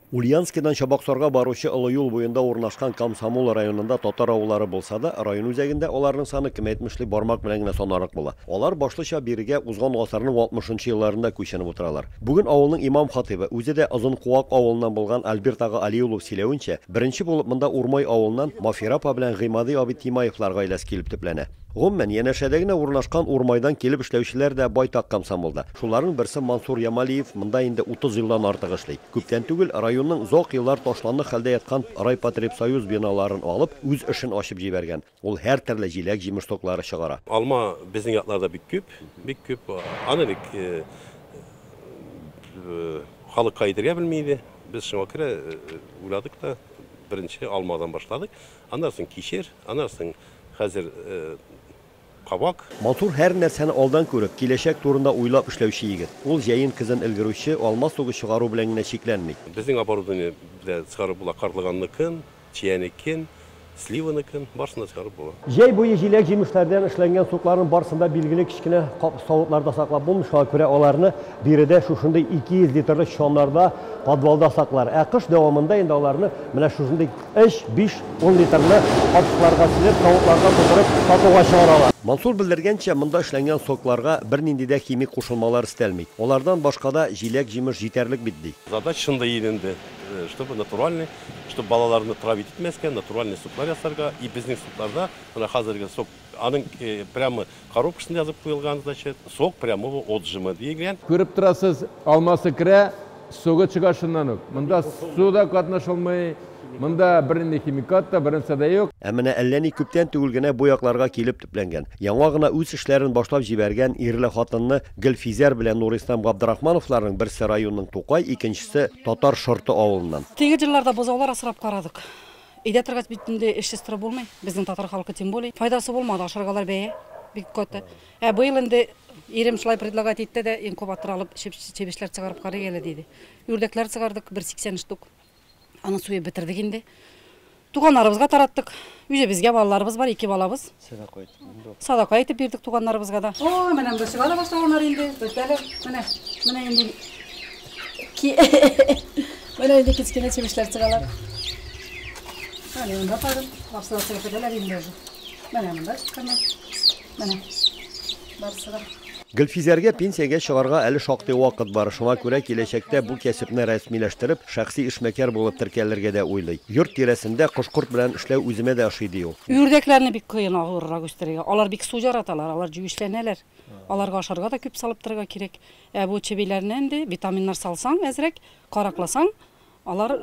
Ульяновскидан Чабаксарга баручы олы юл буенда урнашкан Комсомол районында татар авыллары булса да, район үзәгендә аларның саны кем әйтмешли бармак белән генә санарлык була. Алар башлыча бирегә узган гасырның алтмышынчы елларында күченеп утыралар. Бүген авылның имам-хатыйбы, үзе дә Озын Куак авылыннан булган Альберт ага Али улов сөйләвенчә, беренче булып монда Урмай авылыннан Мафира апа белән Гыймади абый Тимаевлар гаиләсе килеп төпләнә. Гомумән, янәшәдә генә урнашкан Урмайдан килеп эшләүчеләр дә байтак комсомолда. Шуларның берсе Мансур Ямалиев монда инде 30 елдан артык эшли. Күптән түгел районның озак еллар ташландык хәлдә яткан Райпотребсоюз биналарын алып, үз эшен ачып җибәргән. Ул һәртөрле җиләк-җимеш соклары чыгара. Алма безнең якларда бик күп, бик күп. Аны бик халык кайдергә белми иде. Без шуңа күрә уйладык та, беренче алмадан башладык. Аннары соң кишер, аннары соң хәзер. кабак. Матур һәр нәрсәне алдан күреп, киләчәк турында уйлап эшләүче егет. Ул җәен көзен өлгерүче, алма сугы чыгару белән генә чикләнми. Безнең оборудование дә чыгарып була, карлыганныкын, чиянекен, сливаныкын, барысын да чыгарып була. Җәй буе җиләк-җимешләрдән эшләнгән сукларның барысын да билгеле кечкенә кап савытларда саклап булмый, шуңа күрә аларны биредә шушындый 200 литрлык чаннарда, подвалда саклар. Ә кыш дәвамында инде аларны менә шушындый. Өч, биш, ун литрлы капчыкларга сибеп, тавыкларга тутырып, сатуга чыгаралар. Мансур белдергәнчә, монда эшләнгән сокларга бернинди дә химик кушылмалар өстәлми. Алардан башка да җиләк-җимеш җитәрлек бит, ди. Задач шундый иде инде, чтобы натуральный, чтобы балаларны травить итмәскә, натуральный соклар ясарга. И безнең сокларда, менә хәзерге сок Аның прямо коробкасында язып куелган, значит, сок прямого отжима диелгән. Күреп торасыз, алмасы керә, согы чыга шуннан ук. Монда су да катнашылмый, монда бернинди химикат та, бернәрсә дә юк. Ә менә әллә ни күптән түгел генә бу якларга килеп төпләнгән, яңа гына үз эшләрен башлап җибәргән ирле-хатынлы Гөлфизәр белән Нурислам Габдрахмановларның берсе районның Тукай, икенчесе Татар Шорты авылыннан. Теге җырларда бозаулар асрап карадык. Өйдә торгач бит инде эшсез торып булмый. Безнең татар халкы тем более. Файдасы булмады, ашаргалар бәя бик каты. Ә быел инде ирем шулай предлагать итте дә, инкубатор алып чебешләр чыгарып карыйк әле диде. Үрдәкләр чыгардык 180 штук. Аны суеп бетердек инде. Туганнарыбызга тараттык. Үзебезгә балаларыбыз бар, ике балабыз. Садака итеп бирдек. Садака итеп бирдек туганнарыбызга да. О, менә бу чыга да башлаганнар инде. Бетәле. Менә, менә инде. Ки. Менә инде кечкенә чебешләр чыгалар. Менә монда кадәр. Лапсылар чыгып бетәләр инде. Менә монда чыкканнар. Менә. барысы Гөлфизәргә пенсиягә чыгарга әле шактый вакыт бар. Шуңа күрә киләчәктә бу кәсепне рәсмиләштереп, шәхси эшмәкәр булып теркәлергә дә уйлый. Йорт тирәсендә кош-корт белән эшләү үземә дә ошый, ди ул. Үрдәкләрне бик кыен авыррак үстерергә. Алар бик су яраталар, алар җүешләнәләр. Аларга ашарга да күп салып торырга кирәк. Ә бу чебиләрне инде витаминнар салсаң әзрәк, каракласаң, алар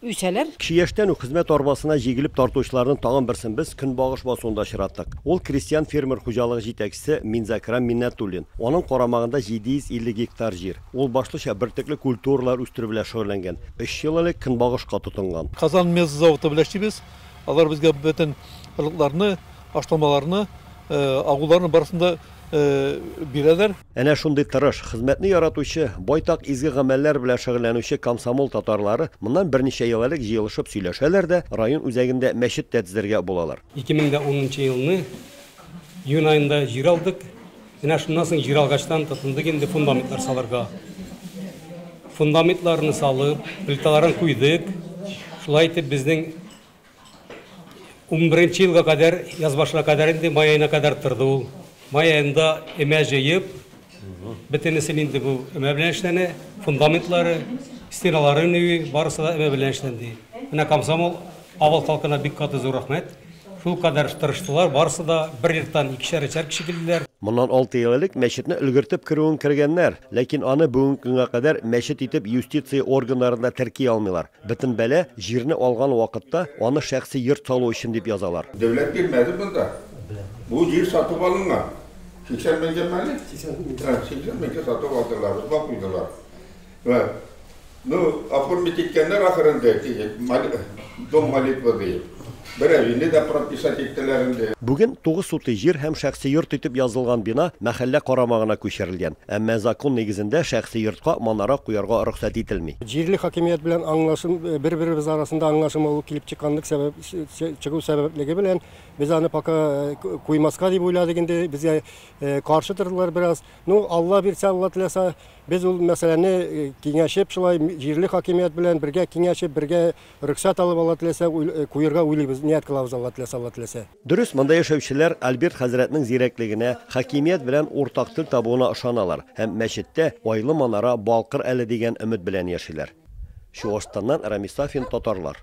үсәләр. Кече яшьтән үк хезмәт арбасына җигелеп тартучыларның тагын берсен без Көнбагыш басуында очраттык. Ул крестьян-фермер хуҗалыгы җитәкчесе Минзакрам Миннәтуллин. Аның карамагында 750 гектар җир. Ул башлыча бөртекле культуралар үстерү белән шөгыльләнгән. Өч ел элек Көнбагышка тотынган. Казан мезы заводы белән эшлибез. Алар безгә бөтен орлыкларны, ашламаларны, агуларны барысын да бирәләр. Әнә шундый тырыш, хезмәтне яратучы, байтак изге гамәлләр белән шөгыльләнүче комсомол татарлары моннан берничә ел элек җыелышып сөйләшәләр дә, район үзәгендә мәчет тә төзергә булалар. Ике мең дә унынчы елны июнь аенда җир алдык. Менә шуннан соң җир алгачтан тотындык инде фундаментлар салырга. Фундаментларны салып, плиталарын куйдык. Шулай итеп безнең Унберенче елга кадәр, яз башына кадәр инде, май аена кадәр торды ул. Май аенда өмә җыеп, бөтенесе инде бу өмә белән эшләнә, фундаментлары, стеналары өневи, барысы да өмә белән эшләнде. Менә комсомол авыл халкына бик каты зур рәхмәт. Шул кадәр тырыштылар, барысы да бер йорттан икешәр, өчәр кеше килделәр. Моннан алты ел элек мәчетне өлгертеп керүен кергәннәр, ләкин аны бүгенге көнгә кадәр мәчет итеп юстиция органнарында терки алмыйлар. Бөтен бәла, җирне алган вакытта, аны шәхси йорт салу өчен дип язалар. Дәүләт бирмәде монда. Бу җир сатып алынган. 80 меңгәме әле? 80 меңгә сатып алдылар, озга куйдылар. Вә, ну, оформить иткәннәр ахырында, дом молитвы диеп. Берәр җиде дә прописать иттеләр инде. Бүген тугыз сутый җир һәм шәхси йорт итеп язылган бина мәхәллә карамагына күчерелгән. Әмма закон нигезендә шәхси йортка манара куярга рөхсәт ителми. Җирле хакимият белән аңлашым, бер-беребез арасында аңлашылмау килеп чыкканлык сәбәп, чыгу сәбәплеге белән без аны пока куймаска дип уйладык инде. Безгә каршы тордылар бераз. Ну, Алла бирсә, Алла теләсә, без ул мәсьәләне киңәшеп, шулай җирле хакимият белән бергә киңәшеп, бергә Рөхсәт алып Алла теләсә куерга уйлыйбыз, ният кылабыз Алла теләсә, Алла теләсә. Дөрес, монда яшәүчеләр Альберт хәзрәтнең зирәклегенә, хакимият белән уртак тел табуына ышаналар һәм мәчеттә айлы манара балкыр әле дигән өмет белән яшиләр. Чуашстаннан Рамис Сафин, Татарлар.